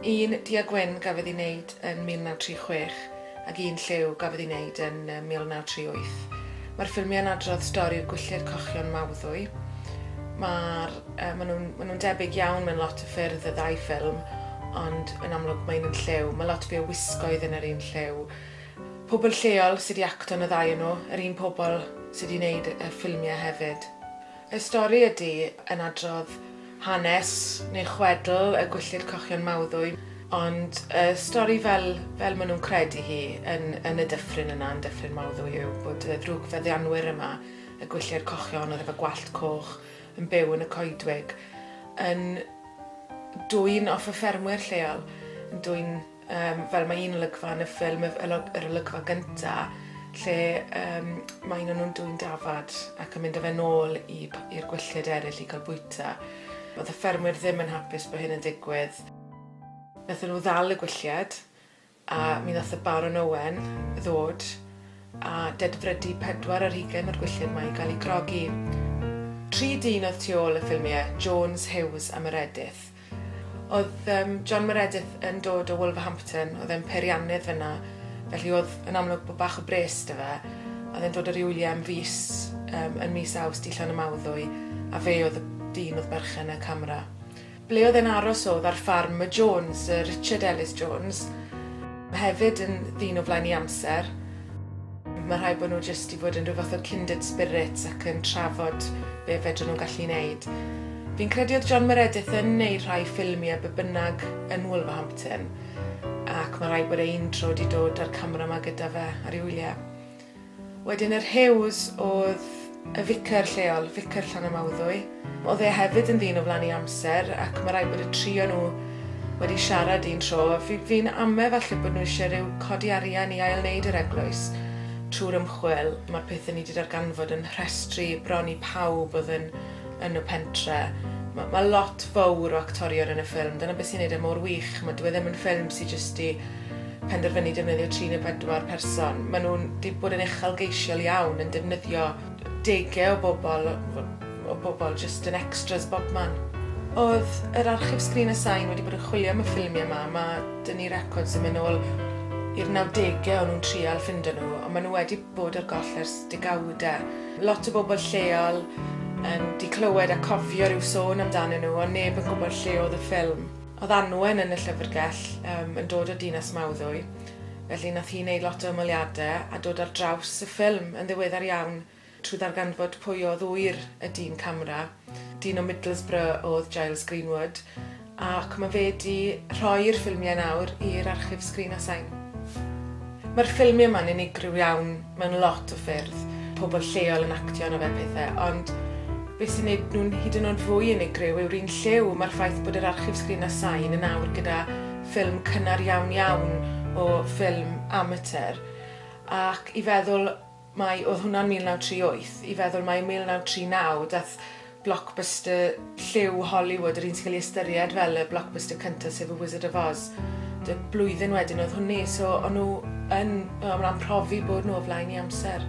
Un du a gwyn gafodd ei wneud yn 1936 ac un lliw gafodd ei wneud yn 1938. Mae'r ffilmiau'n adrodd stori'r gwylltir cochion Mawddwy. Mae'r, uh, maen nhw'n ma nhw debyg iawn mewn lot o ffyrdd y ddau ffilm, ond yn amlwg mae un yn lliw. Mae lot fwy o wisgoedd yn yr un lliw. Pobl lleol sydd wedi acto yn y ddau yn nhw, yr un pobl sydd wedi wneud y ffilmiau hefyd. Y stori ydy, yn adrodd hanes neu chwedl y gwylltid cochion mawddwy, ond y stori fel, fel maen nhw'n credu hi yn, yn y dyffryn yna, yn dyffryn mawddwy yw bod y ddrwg feddianwyr yma, y gwylltiau'r cochion oedd efo gwallt coch yn byw yn y coedwig, yn dwyn off y ffermwyr lleol, yn dwyn Um, fel mae un olygfa yn y ffilm, yr olygfa gyntaf, lle um, mae un o'n nhw'n dwy'n dafad ac yn mynd â fe nôl i'r gwylltid eraill i gael bwyta. Oedd y ffermwyr ddim yn hapus bod hyn yn digwydd. Nethon nhw ddal y gwylliad a mi ddoth y Baron Owen ddod a dedfrydu pedwar ar hugain o'r gwylliad mae i gael ei grogi. Tri dyn oedd tu ôl y ffilmiau, Jones, Hughes a Meredith. Oedd yym John Meredith yn dod o Wolverhampton, oedd e'n peiriannydd fynna, felly oedd yn amlwg bod bach o bres 'da fe. Oedd e'n dod o Riwlye am fis yym yn mis Awst i Llanymawddwy, a fe oedd y dyn oedd berchen y camera. Ble oedd e'n aros oedd ar ffarm y Jones, y Richard Ellis Jones, hefyd yn ddyn o flaen 'i amser. Mae'n rhaid bod nhw jyst wedi bod yn rhyw fath o kindred spirits ac yn trafod be fedrwn nhw'n gallu wneud. Fi'n credu oedd John Meredith yn wneud rhai ffilmi a be bynnag yn Wolverhampton ac mae'n rhaid bod e un tro wedi dod â'r camera yma gyda fe ar ei wyliau. Wedyn yr Hughes oedd Y ficer lleol, Ficer Llanymawddwy. Oedd e hefyd yn ddyn o flaen ei amser ac mae rhaid bod y tri o nhw wedi siarad un tro. Fi, fi'n ame falle bod nhw eisiau rhyw codi arian i ail-wneud yr eglwys trwy'r ymchwil. Mae'r pethau ni wedi darganfod yn rhestru bron i pawb oedd yn, yn y pentre. Mae, mae lot fawr o actorion yn y ffilm, dyna beth sy'n neud e mor wych. Mae, dyw e ddim yn ffilm sydd jyst i penderfynu defnyddio tri neu bedwar person. Maen nhw'n wedi bod yn uchelgeisiol iawn yn defnyddio degau o bobl, o bobl jyst yn extras bobman. Oedd yr archif Sgrin y Sain wedi bod yn chwilio am y ffilmiau yma, mae dyn ni records yn mynd nôl i'r 90au o'n nhw'n trial ffindo nhw, ond maen nhw wedi bod ar goll ers degawda. Lot o bobl lleol yn di clywed a cofio rhyw sôn amdanyn nhw, ond neb yn gwybod lle oedd y ffilm. Oedd Anwen yn y llyfrgell, yym, yn dod o Dinas Mawddwy, felly nath hi neud lot o ymweliade a dod ar draws y ffilm yn ddiweddar iawn trwy ddarganfod pwy o'dd ŵyr y dyn camera. Dyn o Middlesbrough o'dd Giles Greenwood, ac ma' fe 'di rhoi'r ffilmie nawr i'r Archif Sgrin a Sain. Ma'r ffilmie 'ma'n unigryw iawn. Mae'n lot o ffyrdd, pobl lleol yn actio arno fe a pethe, ond be sy'n neud nhw'n hyd yn o'd fwy unigryw yw'r un lliw, mae'r ffaith bod yr archif sgrin a sain yn awr gyda ffilm cynnar iawn iawn o ffilm amatur, ac i feddwl mai, oedd hwnna'n 1938, i feddwl mai 1939 daeth Blockbuster lliw Hollywood, yr un sy'n cael ei ystyried fel y blockbuster cyntaf sef y Wizard of Oz. Dy blwyddyn wedyn oedd hwnni, so o'n nhw yn, o'n nhw'n profi bod nhw o flaen i amser.